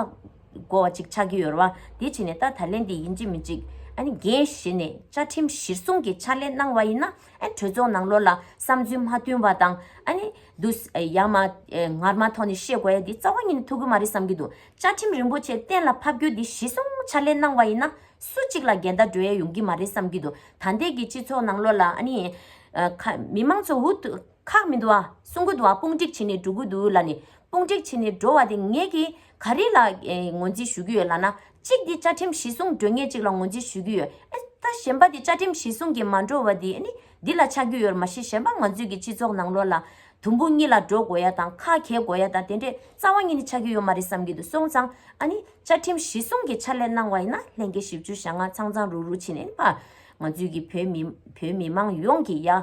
Speaker 1: དགོ་བ་ཅིག་ཆགས་ཀྱི་ཡོད་རེད་བ་དེ་ཕྱིན་ནས་ད་ད་ལན་དེ་ཡིན་གཅིག་མིན་གཅིག་ཨ་ནི་རྒན་བཞེས་ནས་བཅའ་ཁྲིམས་གཞིར་བཟུང་གི་ཕྱག་ལས་གནང་བ་ཡིན་ན། ཨ་གྲོས་ཚོགས་ནང་ལོར་ལ་བསམ་ཚུལ་མ་བསྟུན་བ་དང། ཨ་ནི། འདུག། ཡང་མ། ངར་མ་ཐོག་ནས་བཤད་དགོས་ཡ་འདི་རྩ་བ་ཉིད་ནས་ཐུག་གི་མ་རེད་བསམ་གྱི་འདུག་བཅའ་ཁྲིམས་རིན་པོ་ཆེ་གཏན་ལ་ཕབ་རྒྱུ་འདི་གཞི་བཟུང་ཕྱག་ལས་གནང་བ་ཡིན་ན་སུ་གཅིག་ལ་འགལ་ཟླ་འགྲོ་ཡ་ཡོང་གི་མ་རེད་བསམ་གྱི་འདུག་ད་ལྟའི་གི་སྤྱི་ཚོགས་ནང་ལོར་ལ་ཨ་ནི། མི་མང་ཚོ་འུ། ཁག་མི་འདུག་ཨ། སྲུང་གི་འདུག་ཨ་དཔུང་སྒྲིག་བྱེད་ནས་འགྲོ་གི་འདུག་ལ་ནི། དཔུང་སྒྲིག་བྱེད་ནས་འགྲོ་བ་དེ་ངེད་ཀྱིས་ག་རེ་ལ་ངོས་འཛིན་ཞུ་གི་ཡོད་ལ་ན། གཅིག་དེ་བཅའ་ཁྲིམས་གཞི་སྲུང་འགྲོས་ངེད་ཅིག་ལ་ངོས་འཛིན་ཞུ་གི་ཡོད་ཨ། ད་གཞན་པ་དེ་བཅའ་ཁྲིམས་གཞི་སྲུང་གི་མ་འགྲོ་བ་དེ་ནི་འདི་ལ་ཆགས་རྒྱུ་ཡོད་མ་གཞི་གཞན་པ་ང་ཚོས་ཀྱི་སྤྱི་ཚོགས་ནང་ལོགས་ལ། དུམ་བུ་གཉིས་ལ་འགྲོ་དགོས་ཡ་དང་ཁ་གྱེས་དགོས་ཡ་དང་དེ་འདྲའི་རྩ་བ་གཉིས་ནི་ཆགས་ཀྱི་ཡོད་མ་རེད་བསམ་གྱི་འདུག་སོང་ཙང་ཨ་ནི། བཅའ་ཁྲིམས་གཞི་སྲུང་གི་ཕྱག་ལས་གནང་བ་ཡིན་ན་ལྷན་སྐྱེས་བཞི་བཅུ་ཞག་ལྔ་ཚང་ཚང་རུག་རུག་བྱེད་ནས་ནི་པ། ང་ཚོས་ཀྱི་བོད་མི་མང་ཡོངས་ཀྱི་ཡ།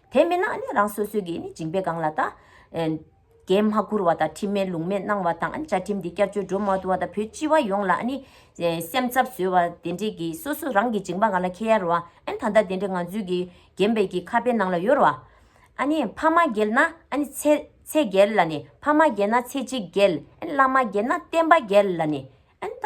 Speaker 1: དེ་མིན་ན་ནི་རང་སོ་སོའི་གིས་ནི་འཇིང་པའི་སྒང་ལ་དང། རྒན་མ་བཀུར་བ་དང་ཁྲིམས་མེད་ལུགས་མེད་གནང་བ་དང་བཅའ་ཁྲིམས་དེ་བསྐྱར་བཅོས་འགྲོ་མ་ཐུབ་བ་དང་བོད་སྤྱི་བ་ཡོངས་ལ་ནི། སེམས་འཚབ་བཟོས་བ་དེ་འདྲས་ཀྱི་སོ་སོ་རང་གི་འཇིང་པ་སྒང་ལ་ཁེལ་ཡར་བ། ད་ལྟ་དེ་འདྲས་ང་ཚོའི་གིས་རྒན་པའི་གིས་ཁ་པའི་ནང་ལ་ཡོར་བ། ནི་ཕ་མ་རྒྱལ་ན་ནི་ཚེ་རྒྱལ་ལ་ནི་ཕ་མ་རྒྱལ་ན་ཚེ་གཅིག་རྒྱལ། བླ་མ་རྒྱལ་ན་བསྟན་པ་རྒྱལ་ལ་ནི། ཨན་ད།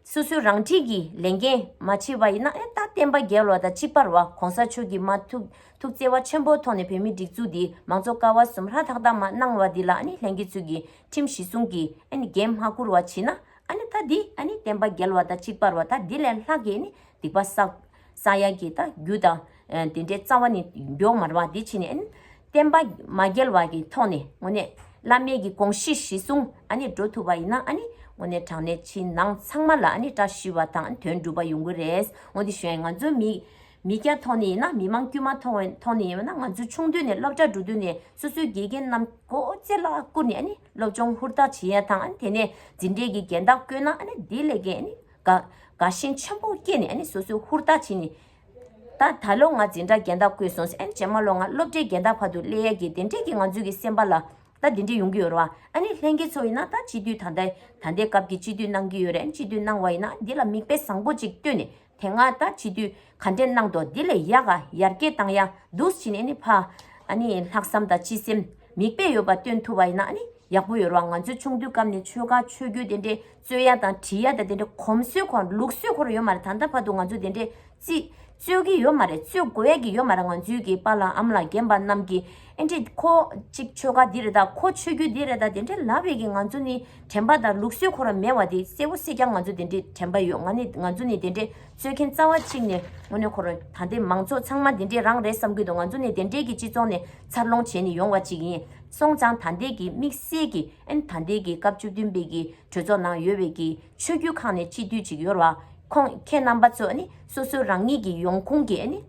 Speaker 1: སོ་སོའི་རང་འཁྲིས་ཀྱི་ལས་འགན་མ་བྱེད་པ་ཡིན་ན་ཨན་ད་བསྟན་པ་རྒྱལ་བ་དང་གཅིག་པར་བ་གོང་ས་མཆོག་གིས་མ་ཐུག་ཐུག་བརྩེ་བ་ཆེན་པོའི་ཐོག་ནས་བོད་མིའི་སྒྲིག་འཛུགས་འདི་མང་གཙོ་ཀ་བ་གསུམ་ཧྲ་ཐག་ཐག་མ་གནང་བ་འདི་ལ་ཨནི་ལྷན་སྐྱེས་ཚུལ་གྱི་ཁྲིམས་གཞི་སྲུང་གི་ཨནི་འགན་མ་འཁུར་བ་བྱེད་ན་ཨནི་ད་འདི་ཨནི་བསྟན་པ་རྒྱལ་བ་དང་གཅིག་པར་བ་ད་འདི་ལས་ལྷག་གི་ཨནི་སྡིག་པ་བསགས། ས་ཡ་གྱི་དང་རྒྱུ་དང། དེ་འདྲའི་རྩ་བ་ནི་མགྱོགས་མར་བ་འདི་ཕྱིན་ནས། བསྟན་པ་མ་རྒྱལ་བ་ཀྱི་ཐོག་ནས་ངོ་ནས། བླ་མེད་ཀྱི་དགོངས་གཞི་གཞི་བཟུང་འགྲོ་ཐུབ་པ་ཡིན་ན། ངོ་ནས་དྲང་གནས་ཕྱི་ནང་ཚང་མ་ལ་བཀྲ་ཤིས་བ་དང་དོན་འགྲུབ་པ་ཡོང་གི་རེད། ངོ་དེ་བཞིན་ང་ཚོ་མི། མི་སྐྱ་ཐོག་ནས་ཡིན་ན་མི་མང་དཀྱུས་མ་ཐོག་ནས་ཡིན་ན་ང་ཚོ་ཆུང་དུས་ནས་སློབ་གྲྭ་འགྲོ་དུས་ནས་སོ་སོའི་དགེ་རྒན་རྣམས་མགོ་ལྕེ་ལ་བཀུར་ནས་སློབ་སྦྱོང་ཧུར་ཐག་བྱེད་ཡ་དང་དེ་ནས་འཛིན་གྲས་ཀྱི་འགན་དག་བསྐོན་ན་དེ་ལས་ཀྱི། དགའ་ཞེན་ཆེན་པོ་སྐྱེས་ནས་ནི་སོ་སོའི་ཧུར་ཐག་བྱས་ནས། ད་ད་ལོ་ང་འཛིན་གྲྭ་རྒན་བདག་བསྐོས་སོང་ཟེར། རྗེས་མ་ལོ་ང་སློབ་གྲྭའི་རྒན་བདག་བར་དུ་སླེ་ཡས་ཀྱིས་དེ་འདྲས་ཀྱི་ང་ཚོའི་གི་སེམས་པ་ལ། ད་དེ་འདྲས་ཡོང་གི་ཡོད་རེད་བ། ལྷན་རྒྱས་ཚོ་ཡིན་ན་ད་སྤྱི་འཐུས་ད་ལྟ་ད་ལྟའི་སྐབས་ཀྱི་སྤྱི་འཐུས་གནང་གི་ཡོད་རེད་སྤྱི་འཐུས་གནང་བ་ཡིན་ན་འདི་ལ་མིག་དཔེ་བཟང་པོ་ཅིག་བཏོན་ནས་དེ་སྔ་ད་སྤྱི་འཐུས་ག་འདྲས་གནང་འདུག་དེ་ལས་ཡག་ག་ཡར་རྒྱས་བཏང་ཡག་འདུག་ཕྱིན་ནས་ནི་ཕ། ལྷག་བསམ་དང་སྤྱི་སེམས་མིག་དཔེ་ཡོད་པ་བཏོན་ཐུབ་བ་ཡིན་ན་ནི་ཡག་པོ་ཡོད་རེད་བ་ང་ཚོའི་ཆུང་དུས་སྐབས་ནས་ཆོལ་ཁ་ཆོས་བརྒྱུད་དེ་འདྲས་རྩོད་ཡ་དང་བྲིས་ཡ་དང་དེ་འདྲ་གོམས་སྲོལ་ཁོ་ར་ལུགས་སྲོལ་ཁོ་ར་ཡོད་མ་རེད་ད་ལྟ་བར་དུ་ང་ཚོ་དེ་འདྲས་རྩིས་རྩོད་ཀྱི་ཡོད་མ་རེད་རྩོད་དགོས་ཡ་གི་ཡོད་མ་རེད་ང་ཚོའི་གི་པ་ལང་ཨམ་ལ་རྒན་པ་རྣམས་ཀྱི་ཨེ་འདྲས་ཁོ་ཅིག་ཆོལ་ཁ་འདི་རེད་ད་ཁོ་ཆོས་རྒྱུད་འདི་རེད་ད་དེ་འདྲས་ལབ་ཡ་གི་ང་ཚོ་ནི་དྲན་པ་དང་ལུགས་སྲོལ་ཁོ་ར་མེད་བ་དེ་གསལ་བོ་གསལ་རྐྱང་ང་ཚོ་དེ་འདྲས་དྲན་པ་ཡོད་ང་ནི་ང་ཚོ་ནི་དེ་འདྲས་རྩོད་མཁན་རྩ་བ་གཅིག་ནས་དངོས་གནས་ཁོ་ར་ད་ལྟའི་མང་ཚོགས་ཚང་མ་དེ་འདྲས་རང་རེད་བསམ་གི་འདུག་ང་ཚོ་ནི་དེ་འདྲས་གི་སྤྱི་ཚོགས་ནས་འཚར་ལོངས་བྱས་ནས་ཡོང་བ་ཅིག་ཡིན་སོང་ཙང་ད་ལྟའི་གི་དམིགས་བསལ་གི་ཨན་ད་ལྟའི་གི་སྐབས་བཅུ་བདུན་པའི་གི་གྲོས་ཚོགས་ནང་ཡོད་བའི་གི་ཆོས་བརྒྱུད་ཁག་ནས་སྤྱི་འཐུས་གཅིག་ཡོར་བ་ཁོང་ཁྱེད་རྣམ་པ་ཚོས་ནི་སོ་སོའི་རང་ཉིད་གི་ཡོང་ཁུངས་གི་ནི་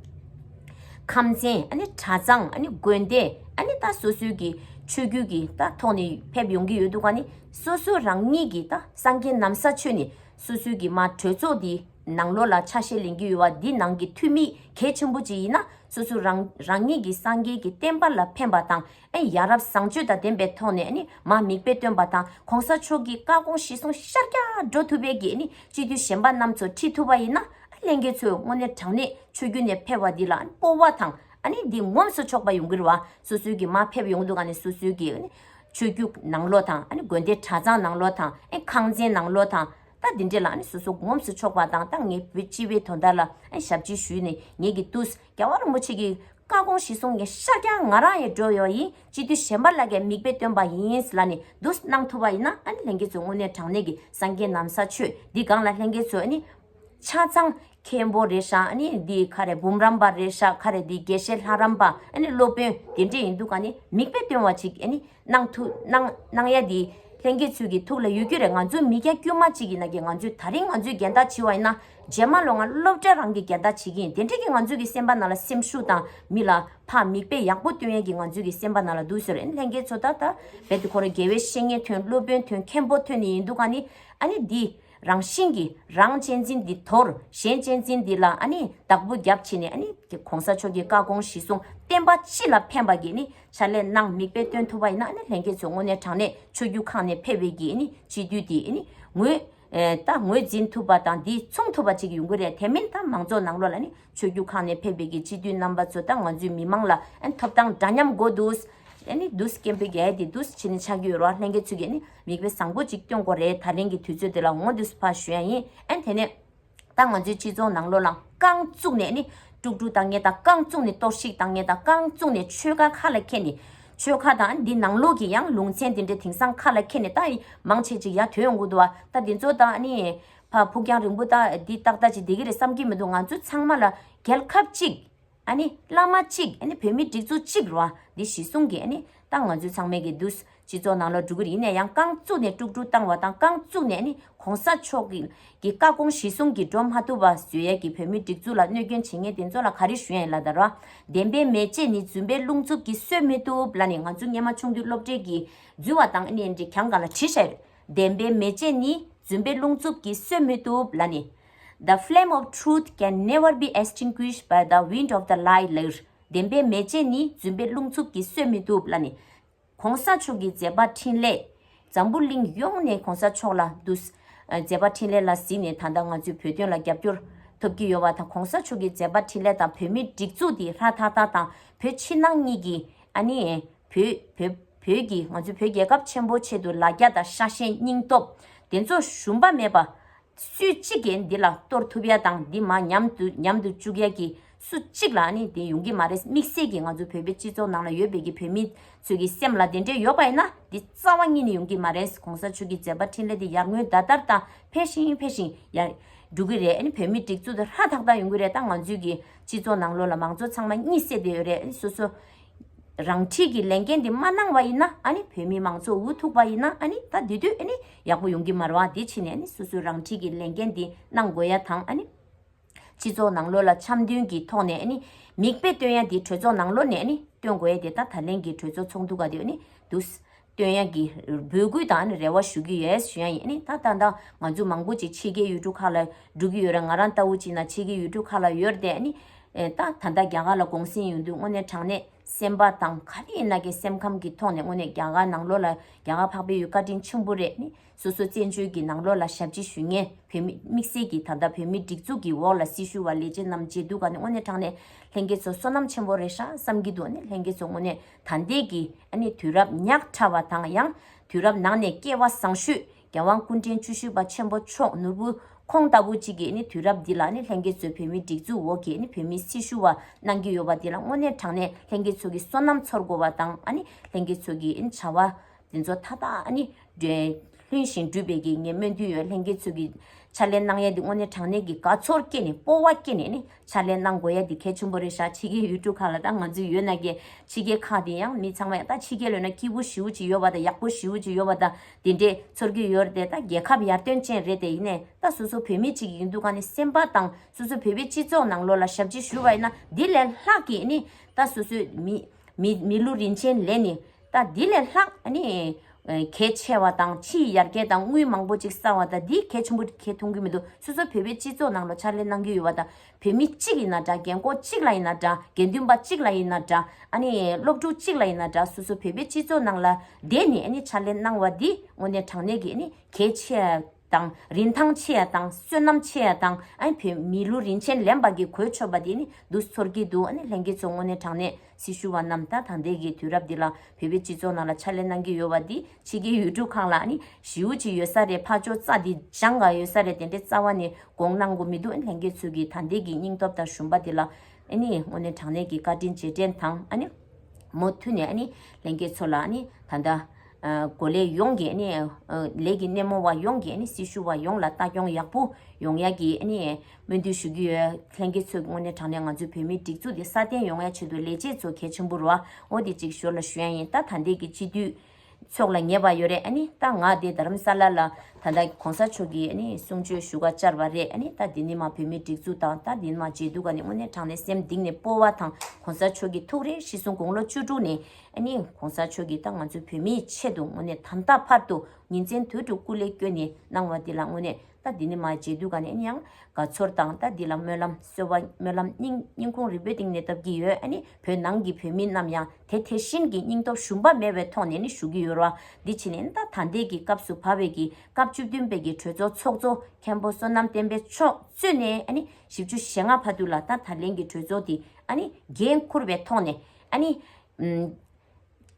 Speaker 1: ཁམས་ཚན་ཨ་ནི་གྲྭ་ཚང་ཨ་ནི་དགོན་སྡེ་ཨ་ནི་ད་སོ་སོའི་གི་ཆོས་བརྒྱུད་གི་ད་ཐོག་ནས་ཕེབས་ཡོང་གི་ཡོད་འདུག་ག་ནི་སོ་སོའི་རང་ཉིད་གི་ད་སང་རྒྱན་ནམ་ས་ཆོས་ནི་སོ་སོའི་གི་མ་གྲོས་ཚོགས་དེ་ནང་ལོགས་ལ་ཆ་ཤས་ལེན་གི་ཡོད་བ་དེ་ནང་གི་འཐུས་མི་གལ་ཆེན་པོ་གཅིག་ཡིན་ན་སོ་སོའི་རང་ཉིད་གི་སང་རྒྱན་གི་བསྟན་པ་ལ་ཕན་པ་དང་ཨེ་ཡ་རབ་བཟང་སྤྱོད་དང་ལྡན་པའི་ཐོག་ནས་མ་མིག་དཔེ་སྟོན་པ་དང་གོང་ས་མཆོག་གིས་བཀའ་དགོངས་གཞི་བཟུང་ཤར་རྒྱ་འགྲོ་ཐུབ་པའི་གི་སྤྱི་འཐུས་གཞན་པ་རྣམས་ཚོ་ཁྲིད་ཐུབ་པ་ཡིན་ན་གླེང་མཁན་ཚོས་དངོས་གནས་དྲང་གནས་ཆོས་རྒྱུད་ནས་ཕེབས་པ་འདི་ལ་སྤོ་བ་དང་འདི་ངོམས་སུ་ཆོག་པ་ཡོང་གིར་བ་སོ་སོའི་གི་མ་ཕེབས་ཡོང་དུ་ག་ནས་སོ་སོའི་གི་ཆོས་རྒྱུད་ནང་ལོག་དང་དགོན་སྡེ་གྲྭ་ཚང་ནང་ལོག་དང་ཁང་ཚན་ནང་ལོག་དང་ད་འདི་འདྲས་ལ་སོ་སོ་ངོམས་སུ་ཆོག་པ་དང་ད་ངས་བོད་སྤྱི་བའི་དོ་ཟླ་ལ་ཞབས་ཕྱི་ཞུས་ནས་ངས་གི་ཏུས། རྒྱལ་བ་རིན་པོ་ཆེ་གི་བཀའ་དགོངས་གཞི་བཟུང་ནས་ཤཱ་ཀྱ་ང་ར་ཡི་འགྲོ་ཡོ་ཡིས་སྤྱི་འཐུས་གཞན་པ་ལ་ཀྱང་མིག་དཔེ་སྟོན་པ་ཡིན་ལ་ནི་བསྡུ་གནང་ཐུབ་པ་ཡིན་ན་ཨ་ནི་ལྷན་རྒྱས་ཚོས་དངོས་གནས་དྲང་གནས་ཀྱི་སངས་རྒྱས་ནམ་ས་ཆོས་འདི་སྒང་ལ་ལྷན་རྒྱས་ཚོས་ཨ་ནི། ཆ་ཚང། མཁན་པོ་རེད་ཤག་ཨ་ནི་འདི་ཁ་རེ་འབུམ་རམས་པ་རེད་ཤག་ཁ་རེ་འདི་དགེ་བཤེས་ལྷ་རམས་པ་ཨ་ནི་སློབ་དཔོན་དེ་འདྲས་ཡིན་འདུག་ག་ནི་མིག་དཔེ་སྟོན་བ་ཅིག་ཨ་ནི་གནང་ཐུ་གནང་གནང་ཡ་འདི་ལྷན་རྒྱས་ཚོས་ཀྱི་ཐུགས་ལ་ཡོད་རྒྱུ་རེད་ང་ཚོ་མི་སྐྱ་དཀྱུས་མ་ཅིག་ཡིན་ན་ཀྱང་ང་ཚོས་ད་རིང་ང་ཚོས་འགལ་ཟླ་བྱི་བ་ཡིན་ན་རྗེས་མ་ལོ་ང་སློབ་གྲྭ་རང་གི་རྒྱལ་དར་བྱེད་ཀྱིན་དེ་འཕྲལ་གྱི་ང་ཚོས་ཀྱི་སེམས་པ་ན་ལ་སེམས་ཤུགས་དང་མི་ལ་ཕ་མིག་དཔེ་ཡག་པོ་སྟོན་ཡན་གྱི་ང་ཚོས་ཀྱི་སེམས་པ་ན་ལ་འདུག་ཟེར་ཨན་ལྷན་རྒྱལ་ཚོ་ད་ད་རྦད་དེ་ཁོ་རེ་རྒྱལ་བའི་བཤེས་གཉེན་ཐོན་སློབ་དཔོན་ཐོན་མཁན་པོ་ཐོན་ནི་ཡིན་འདུག་ག་ནི་ཨ་ནི་འདི་རང་བཞིན་གྱི་རང་གཅེས་འཛིན་འདི་དོར་གཞན་གཅེས་འཛིན་འདི་ལ་ཨ་ནི་བདག་པོ་རྒྱབ་བྱེད་ནི་ཨ་ནི་དེ་གོང་ས་མཆོག་གྱི་བཀའ་དགོངས་གཞི་བཟུང་བསྟན་པ་སྤྱི་ལ་ཕན་པ་གྱི་ནི་ཕྱག་ལས་གནང་མིག་དཔེ་སྟོན་ཐུབ་པ་ཡིན་ན་ཨ་ནི་ལྷན་རྒྱལ་ཚོ་དངོས་གནས་དྲང་གནས་ཆོས་རྒྱུད་ཁག་ནས་ཕེབས་བས་ཀྱི་ཨ་ནི་སྤྱི་འཐུས་དེ་ཨ་ནི་ངོས། ད་ངོས་འཛིན་ཐུབ་པ་དང་དེ་མཚུངས་ཐུབ་པ་ཅིག་ཡོང་གི་རེད་དེ་མིན་ད་མང་ཚོགས་ནང་ལོགས་ལ་ནི་ཆོས་རྒྱུད་ཁག་ནས་ཕེབས་པའི་གི་སྤྱི་འཐུས་རྣམ་པ་ཚོ་ད་ང་ཚོའི་མི་མང་ལ་ཐོབ་ཐང་འདྲ་མཉམ་དགོས་འདུག་ཨེ་ནི་འདུག་སྐད་འབོད་གི་ཨེ་དེ་འདུག་ཕྱི་ནས་ཆགས་ཀྱི་ཡོད་རོགས་ལྷན་རྒྱས་ཚུད་ཀྱི་ནི་མིག་དཔེ་བཟང་པོ་ཅིག་སྟོན་དགོས་རེད་ད་རིང་གི་དུས་ཚོད་དེ་ལ་ངོ་འདུག་ཕ་ཞུ་ཡ་ཡིན་ཨེ་དེ་ནས། ད་ང་ཚོའི་སྤྱི་ཚོགས་ནང་ལོགས་ལ་རྐང་བཙུགས་ནས་ནི་དཀྲུག་དཀྲུག་བཏང་ངེས་དང་རྐང་བཙུགས་ནས་གཏོར་བཤིག་བཏང་ངེས་དང་རྐང་བཙུགས་ནས་ཆོལ་ཁ་ཁ་ལ་ཁད་ནས་ཆོལ་ཁ་དང་འདི་ནང་ལུགས་ཀྱི་ཡང་ལུང་ཚན་དེ་འདྲའི་དེང་སང་ཁ་ལ་འཁྱེར་ནས་ལྟ་མང་བྱེད་ཅིག་ཡ་དོན་འུ་དུ་བ་ལྟ་འདི་ཚོ་དང་ནི། ཕ་ཕུགས་རྒྱང་རིང་པོ་ལྟ་འདི་ཏག་ཏག་ཅིག་བདེ་གི་རེད་བསམ་གྱི་མི་འདུག་ང་ཚོ་ཚང་མ་ལ་རྒྱལ་ཁབ་གཅིག། ནི་བླ་མ་གཅིག་ནི་བོད་མི་སྒྲིག་འཛུགས་གཅིག་རུ་བ་འདི་གཞི་བཟུང་གི་ནི་ཏང་ང་ཚོའི་ཚང་མའི་གི་འདུས་སྤྱི་ཚོགས་ནང་ལ་འགྲོ་གི་རེད་ཡིན་ནས་ཡང་རྐང་བཙུགས་ནས་དཀྲུག་དཀྲུག་བཏང་བ་དང་རྐང་བཙུགས་ནས་ནི་གོང་ས་མཆོག་གི་གི་བཀའ་དགོངས་གཞི་བཟུང་གིས་འགྲོ་མ་ཐུབ་པ་བཟོད་ཡལ་གྱི་བོད་མིའི་སྒྲིག་འཛུགས་ལ་གནོད་སྐྱོན་བྱེད་ངེས་དེ་ཚོ་ལ་ག་རེ་ཞུ་ཡན་ལ་དར་བ་བདེན་པའི་མེ་ལྕེ་ནི་རྫུན་པའི་རླུང་འཚུབ་ཀྱིས་གསོད་མི་ཐུབ་ལ་ནི་ང་ཚོ་སྙེ་མ་ཆུང་དུས་སློབ་གྲྭའི་གི་འཛུལ་བ་དང་ནི་འདྲི་གང་གང་ལ་དྲི་ཞར་བདེན་པའི་མེ་ལྕེ་ནི་རྫུན་པའི་རླུང་འཚུབ་ཀྱིས་གསོད་མི་ཐུབ་ལ་ནི The flame of truth can never be extinguished by the wind of the lie ལར་བདེན་པའི་མེ་ལྕེ་ནི་རྫུན་པའི་རླུང་འཚུབ་ཀྱིས་གསོད་མི་ཐུབ་ལ་ནི། གོང་ས་མཆོག་གི་མཛད་པ་འཕྲིན་ལས། འཛམ་བུ་གླིང་ཡོངས་ནས་གོང་ས་མཆོག་ལ་འདུད། མཛད་པ་འཕྲིན་ལས་ལ་གཟིགས་ནས་ད་ལྟ་ང་ཚོའི་བོད་དོན་ལ་རྒྱབ་སྐྱོར། ཐོབ་ཀྱི་ཡོད་བ་དང་གོང་ས་མཆོག་གི་མཛད་པ་འཕྲིན་ལས་དང་བོད་མིའི་སྒྲིག་འཛུགས་འདི་ལྷ་དྷ་དྷ་དང་བོད་ཕྱི་ནང་གཉིས་ཀྱི། ཨ་ནི། བོད། བོད་ཀྱི་ང་ཚོའི་བོད་རྒྱལ་ཁབ་ཆེན་པོ་ཆེད་དུ་ལ་རྒྱ་དང་ཤ་ཞེན་སྙིང་སྟོབས། དེ་ཚོ་ཞུམ་པ་མེད་པ། སུའི་གཅིག་གིས་འདི་ལ་གཏོར་ཐུབ་ཡ་དང་འདི་མ་ཉམས་དུ་ཉམས་དུ་བཅུག་ཡ་གི་སུ་གཅིག་ལ་ནི་དེ་ཡོང་གི་མ་རེད་དམིགས་བསལ་གྱི་ང་ཚོ་བོད་པའི་སྤྱི་ཚོགས་ནང་ལ་ཡོད་པའི་གི་བོད་མི་ཚོས་གི་སེམས་ལ་དེ་འདྲས་ཡོད་པ་ཡིན་ན་འདི་རྩ་བ་གཉིས་ནི་ཡོང་གི་མ་རེད་གོང་ས་མཆོག་གི་མཛད་པ་འཕྲིན་ལས་དེ་ཡར་ངོའི་ཟླ་ལྟར་དང་འཕེལ་ཞིང་འཕེལ་ཞིང་ཡར་འགྲོ་གི་རེད་བོད་མི་སྒྲིག་འཛུགས་དེ་ཧ་ཐག་ཐག་ཡོང་གི་རེད་ད་ང་ཚོའི་གི་སྤྱི་ཚོགས་ནང་ལོ་ལ་མང་ཚོགས་ཚང་མ་གཉིད་སད་དེ་ཡོད་རེད་སོ་སོ་རང་འཁྲིས་ཀྱི་ལས་འགན་དེ་མ་གནང་བ་ཡིན་ན་བོད་མི་མང་ཚོགས་འུ་ཐུག་པ་ཡིན་ན་ད་དེ་དུས་ཡག་པོ་ཡོང་གི་མ་རེད་བ་དེ་ཕྱིན་ནས་སོ་སོའི་རང་འཁྲིས་ཀྱི་ལས་འགན་དེ་གནང་དགོས་ཡ་དང། སྤྱི་ཚོགས་ནང་ལོ་ལ་འཆམ་མཐུན་གྱི་ཐོག་ནས་མིག་དཔེ་སྟོན་ཡ་དེ་གྲོས་ཚོགས་ནང་ལོ་ནས་སྟོན་དགོས་ཡ་དེ་ད་ད་ལན་གྱི་གྲོས་ཚོགས་ཚོགས་འདུ་ག་དུས་འདུག་བསྟོད་དབྱངས་ཀྱི་འབོད་སྐུལ་དང་ནི་རེ་བ་ཞུ་གི་ཡོད་ཞུ་ཡང་ཡིན་ད་ལྟ་ད་ང་ཚོ་མང་པོ་ཅིག་ཕྱི་རྒྱལ་ཡུལ་གྲུ་ཁག་ལ་འགྲོ་གི་ཡོད་རེད་ང་རང་ལྟ་བུ་ཅིག་ན་ཕྱི་རྒྱལ་ཡུལ་གྲུ་ཁག་ལ་ཡོད་དེ་ནི། ད་ད་ལྟ་རྒྱ་གར་ལ་གུང་སེང་ཡོང་དུས་དངོས་གནས་དྲང་གནས་སེམས་པ་དང་ག་རེ་ཡིན་ན་གི་སེམས་ཁམས་ཀྱི་ཐོག་ནས་དངོས་གནས་རྒྱ་གར་ནང་ལོགས་ལ་རྒྱ་གར་འཕགས་པའི་ཡུལ་བཀའ་དྲིན་ཆེན་པོ་རེད་ནི་སོ་སོ་བཙན་བྱོལ་གྱི་ནང་ལོགས་ལ་ཞབས་ཕྱི་ཞུས་ངེས་བོད་མི་དམིགས་བསལ་གྱི་ད་ལྟ་བོད་མི་སྒྲིག་འཛུགས་ཀྱི་འོག་ལ་སྲི་ཞུ་བ་ལས་བྱེད་རྣམས་བྱེད་དུས་ག་ནི་དངོས་གནས་དྲང་གནས་ལྷན་རྒྱས་ཚོ་བསོད་ནམས་ཆེན་པོ་རེད་ཧྲ་བསམ་གྱི་འདུག་ནི་ལྷན་རྒྱས་ཚོ་དངོས་གནས་ཐ་འདས་ཀྱི་ནི་དུས་རབས་ཉག་ཕྲ་བ་དང་ཡང་དུས་རབས་ནང་ནས་སྐྱེ་བ་བཟང་ཤོས་རྒྱལ་དབང་སྐུ་འཕྲེང་བཅུ་བཞི་པ་ཆེན་པོ་མཆོག་ནོར་བུ་ཁོང་ལྟ་བུ་ཅིག་གིས་ནི་དུས་རབས་འདི་ལ་ནི་ལྷན་རྒྱས་ཚོས་བོད་མིའི་སྒྲིག་འཛུགས་འོག་གི་ནི་བོད་མིའི་སྲི་ཞུ་བ་གནང་གི་ཡོད་པ་དེ་ལ་དངོས་གནས་དྲང་གནས་ལྷན་རྒྱས་ཚོ་གི་སོ་ནམ་ཚོར་དགོས་བ་དང་ལྷན་རྒྱས་ཚོ་གི་ནི་བྱ་བ་དེ་ཚོ་མཐའ་དག་ནི། ལྷུན་ཞིང་གྲུབ་པའི་གེགས་ཉེས་སྨོན་འདུན་ཡོད་ལྷན་སྐྱེས་ཚུལ་གྱི། ཕྱག་ལེན་གནང་ཡས་འདི་དངོས་གནས་དྲང་གནས་ཀྱི་དགའ་ཚོར་སྐྱེས་ནས་སྤོ་བ་སྐྱེས་ནས་ནི། ཕྱག་ལེན་གནང་དགོས་ཡས་འདི་གལ་ཆེན་པོ་རེད་བཞག་ཕྱི་རྒྱལ་ཡུལ་གྲུ་ཁག་ལ་ད་ང་ཚོའི་ཡོད་ན་རྒྱལ། ཕྱི་རྒྱལ་ཁག་དེ་ཡང་མི་ཚང་མ་ཡང་ད་ཕྱི་རྒྱལ་ལོས་ན་སྐྱིད་པོ་ཞིའུ་ཅིག་ཡོད་པ་དང་ཡག་པོ་ཞིའུ་ཅིག་ཡོད་པ་དང་དེ་འདྲས་ཚོར་གྱི་ཡོད་རེད་ད་རྒྱལ་ཁབ་ཡར་ཐོན་ཅན་རེད་དེ་ཡིན་ནས་ད་སོ་སོ་བོད་མི་གཅིག་ཡིན་དུས་གང་ནས་སེམས་པ་དང་སོ་སོ་བོད་པའི་སྤྱི་ཚོགས་ནང་ལོ་ལ་ཞབས་ཕྱི་ཞུ་བ་ཡིན་ན་དེ་ལས་ལྷག་གིས་ནི། ད་སོ་སོའི་མི། མི་ལུས་རིན་ཆེན་ལས་ནི། ད་འདི་ལས་ལྷག་གལ་ཆེ་བ་དང་ཕྱིའི་ཡར་རྒྱས་དང་དངུལ་མང་པོ་ཅིག་བསགས་བ་དང་འདི་གལ་ཆེན་པོ་གལ་མཐོང་གི་མི་འདུག་སོ་སོ་བོད་པའི་སྤྱི་ཚོགས་ནང་ལོ་ཕྱར་ལས་གནང་རྒྱུ་ཡོད་བ་དང་བོད་མི་གཅིག་ཡིན་ན་འདྲ་རྒན་འཁོག་གཅིག་ལ་ཡིན་ན་འདྲ་དགེ་འདུན་པ་གཅིག་ལ་ཡིན་ན་འདྲ་སློབ་ཕྲུག་གཅིག་ལ་ཡིན་ན་འདྲ་སོ་སོ་བོད་པའི་སྤྱི་ཚོགས་ནང་ལ་བསྡད་ནས་ཕྱར་ལས་གནང་བ་འདི་དངོས་གནས་དྲང་གནས་ཀྱི་གལ་ཆེ། དང། རིན་ཐང་ཆེ་ཡ་དང་བསོད་ནམས་ཆེ་ཡ་དང། བོད་མི་ལུས་རིན་ཆེན་ལེན་པ་གི་གོས་ཆོད་པ་དེ་ནི་བསྡུ་ཚོར་གྱི་འདུག་ལྷན་རྒྱས་ཚོ་དངོས་གནས་དྲང་གནས་སྲི་ཞུ་བ་རྣམས་ད་ད་འདས་ཀྱི་དུས་རབས་འདི་ལ་བོད་པའི་སྤྱི་ཚོགས་ནང་ལ་ཕྱག་ལས་གནང་གི་ཡོད་བ་འདི་ཕྱི་རྒྱལ་ཡུལ་གྲུ་ཁག་ལ་ཞིའུ་ཅི་ཡོད་ས་རེད་ཕག་ཅོ་རྩ་འདི་བཞང་ག་ཡོད་ས་རེད་དེ་འདྲའི་རྩ་བ་ནས་དགོངས་གནང་གོ་མི་འདུག་ལྷན་རྒྱས་ཚོས་ཀྱི་ད་འདས་ཀྱི་སྙིང་སྟོབས་དང་ཞུམ་པ་འདི་ལ་དངོས་གནས་དྲང་གནས་ཀྱི་བཀའ་དྲིན་རྗེས་དྲན་དང། མུ་མཐུད་ནས་ལྷན་རྒྱས་ཚོ་ལ་ད་ད། གོ་ལའི་ཡོངས་ཀྱི་ལས་ཀྱི་སྣེ་མོ་བ་ཡོངས་ཀྱི་སྲི་ཞུ་བ་ཡོངས་ལ་ལྟ་སྐྱོང་ཡག་པོ་ཡོང་ཡག་གི་སྨོན་འདུན་ཞུ་གི་ཡོད། ལྷན་རྒྱས་ཚོས་དངོས་གནས་དྲང་གནས་ང་ཚོའི་བོད་མིའི་སྒྲིག་འཛུགས་དེ་སྲ་བརྟན་ཡོང་བའི་ཆེད་དུ་ལས་བྱེད་ཚོ་གལ་ཆེན་པོ་རོ་ཨོ་དེ་ཅིག་ཞོར་ལ་ཞུ་ཡ་ཡིན་ད་ད་འདས་ཀྱི་སྤྱི་འཐུས་ཚོགས་ལ་ཉེས་པ་ཡོད་རེད་ཨ་ནི་ད་ང་དེ་དར་རམ་ས་ལ་ལ་ད་ད་གོང་ས་མཆོག་གི་གསུང་ཆོས་ཞུ་ག་བཅར་བ་རེད་ཨ་ནི་ད་དེ་ནི་མ་བོད་མིའི་སྒྲིག་འཛུགས་དང་ད་དེ་ནི་མ་མཇལ་དུ་ག་ནི་དངོས་གནས་དྲང་གནས་སེམས་གདིང་ནས་སྤོ་བ་དང་གོང་ས་མཆོག་གི་ཐུགས་རེ་ཤི་གསུང་དགུང་ལོ་བཅུ་དྲུག་ནས་ཨ་ནི་གོང་ས་མཆོག་གིས་ད་ང་ཚོ་བོད་མིའི་ཆེད་དུ་ངོ་ནས་དམ་བཏགས་བར་དུ་ཉིན་མཚན་དུས་དྲུག་སྐུ་ལས་བསྐྱོན་ནས་གནང་བ་འདི་ལ་དངོས་གནས་ད་འདི་ནི་མ་བརྗེད་དུས་ག་ནས་ཡིན་ཡང་དགའ་ཚོར་དང་ད་འདི་ལ་སྨོན་ལམ་གསོལ་བ་སྨོན་ལམ་སྙིང་སྙིང་ཁུང་རི་བོའི་སྟེང་ནས་བཏབ་ཀྱི་ཡོད་ཨ་ནི་བོད་ནང་གི་བོད་མི་རྣམས་ཡང་དེ་དེ་བཞིན་གྱི་སྙིང་སྟོབས་ཞུམ་པ་མེད་བའི་ཐོག་ནས་ནི་ཞུ་གི་ཡོད་རོ་འདི་ཕྱི་ནས་ད་ད་ལྟའི་གི་སྐབས་སུ་བབས་བས་ཀྱི་སྐབས་བཅུ་བདུན་པའི་གི་གྲོས་ཚོགས་ཚོགས་གཙོ་མཁན་པོ་བསོད་ནམས་བསྟན་པའི་མཆོག་གཙོས་ནས་ཨ་ནི་བཞི་བཅུ་ཞེ་ལྔ་བར་དུ་ལ་ད་ད་ལན་གི་གྲོས་ཚོགས་འདི་ཨ་ནི་འགན་འཁུར་བའི་ཐོག་ནས་ཨཱ་ནི།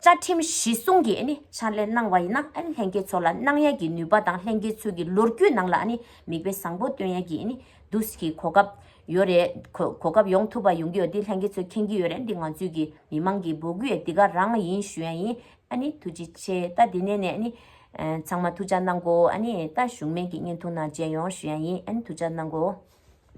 Speaker 1: བཅའ་ཁྲིམས་གཞི་བཟུང་གིས་ཨཱ་ནི་ཕྱག་ལས་གནང་བ་ཡིན་ན་ཨཱ་ནི་ལྷན་རྒྱས་ཚོ་ལ་གནང་ཡག་གི་ནུས་པ་དང་ལྷན་རྒྱས་ཚོའི་གི་ལོ་རྒྱུས་ནང་ལ་ཨཱ་ནི་མིག་དཔེ་བཟང་པོ་སྟོན་ཡག་གི་ཨཱ་ནི་འདུག་ས་གི་གོ་སྐབས་ཡོད་རེད། གོ་སྐབས་ཡོང་ཐུབ་པ་ཡོང་གི་ཡོད་དེ་ལྷན་རྒྱས་ཚོས་མཁྱེན་གྱི་ཡོད་རེད་འདི་ང་ཚོའི་གི་མི་མང་གི་འབོད་སྐུལ་ཡ་འདི་ག་རང་ཡིན་ཞུ་ཡ་ཡིན་ཨཱ་ནི་ཐུགས་རྗེ་ཆེ་ད་འདི་ནས་ནས་ཨཱ་ནི། ཚང་མ་ཐུགས་ཅག་གནང་གོ་ཨཱ་ནི་ད་གཞུང་མེད་གི་བརྙན་ཐུང་ནང་མཇལ་ཡོང་ཞུ་ཡ་ཡིན་ཨཱ་ནི་ཐུགས་ཅག་གནང་གོ།